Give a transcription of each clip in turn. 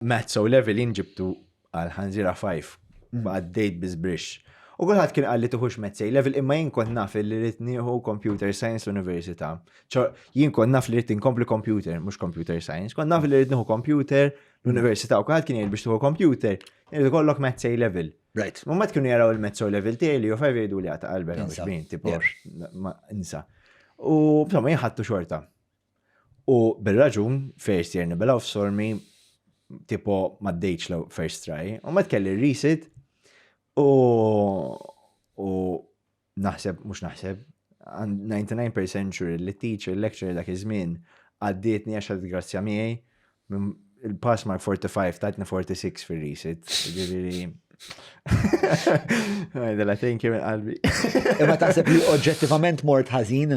Maths O level jien ġibtu għal ħanżira 5. Mm. Għaddejt biżbrix. U kulħadd kien qal li tuħux Maths A level imma jien kont naf li rrid nieħu Computer Science l-Università. Ċo jien kont naf li rrid inkompli computer, mhux computer science, kont naf li rrid nieħu computer l-Università u kulħadd kien jgħid biex tuħu computer, irid ikollok Maths A level. Right. U mat kienu jaraw il-mezzo level tiegħi li u fajf jgħidu li għata qalbek Insa. għax bin, tipo, Yeah. ma- insa. U bżomma jħattu xorta. U bil-raġun, first year nibilaw f'sormi, tipo maddejċ l first try, u ma tkelli risid, u u naħseb, mux naħseb, 99% sure li teacher, lecturer dak iż-żmien, għaddietni għax għad grazzja miegħi, il-pass mark 45 tatni 46 fil-risid, ġiviri. Għajdela, thank you minn qalbi. Imma taħseb li oġġettivament mort ħażin?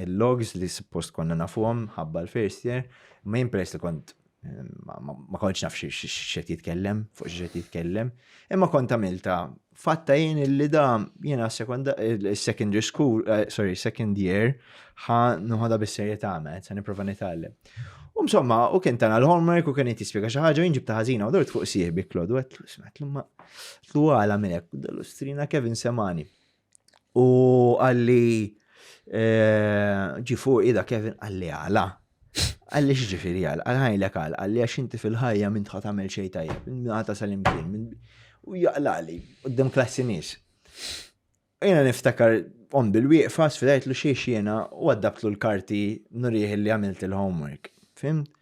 il-logs li suppost konna nafuhom ħabba l-first year, ma jien peress li kont ma kontx naf x'qed jitkellem, fuq x'qed jitkellem, imma kont għamilta fatta jien li da jiena secondary school, eh, sorry, second year, ħa nħoda bis-serje ta' għamet, sa' niprofa nitgħallem. U msomma, u kien tana l-homework u kien jt jispjega xi ħaġa jinġib ta' ħażina u dort fuq sieħbi Klodu għetlu, smetlu ma tlu għala minnek, dal-ustrina Kevin Semani. U għalli ġi fuq ida Kevin għalli għala. Għalli xġifiri għal, għalħajlek għal, għalli għax inti fil-ħajja minn tħat għamil xej tajjeb, għata sal-imkien, u jaqlali, u d-dem klassi nis. Jena niftakar on bil-wieqfa, sfidajt lu xiex jena, u għaddabtlu l-karti nurieħ li għamilt il-homework. Fim?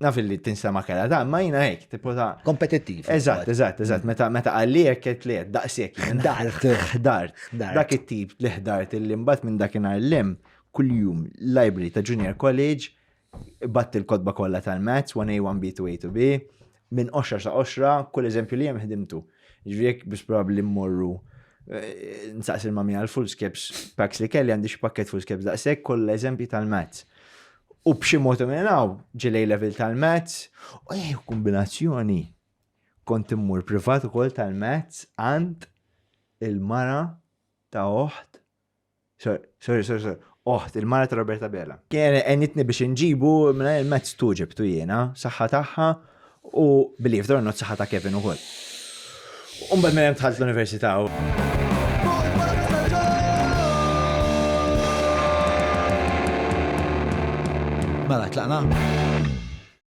naf li tinsema kera ta' ma jina hekk, tipo ta' kompetittiv. Eżatt, eżatt, eżatt, mm. meta meta għalliek qed li daqshekk ħdart, ħdart. Dak it-tip li ħdart li mbagħad minn dakinhar lem kuljum library ta' junior college batt il-kotba kollha tal-maths 1A 1B 2A 2B Minn qoxra sa qoxra, kull eżempju li hemm ħdimtu. Ġifieri jekk biss probabbli mmorru eh, nsaqs il-mami għal full skips packs li kelli għandi xi pakket full skips daqshekk kollha eżempji tal-mats. U b'xi mod minn hawn ġilej level tal-mats u eh, kombinazzjoni kont immur privat ukoll tal-mats għand il-mara ta' oħt Sorry, sorry, sorry. Oħt, il-mara ta' Roberta Bela. Kien għenitni biex nġibu minna il-mezz tu ġibtu jena, saħħa taħħa u billi f'dor not saħħa ta' Kevin u koll. Umba minn hemm tħalt l-università. Mela, tlaqna?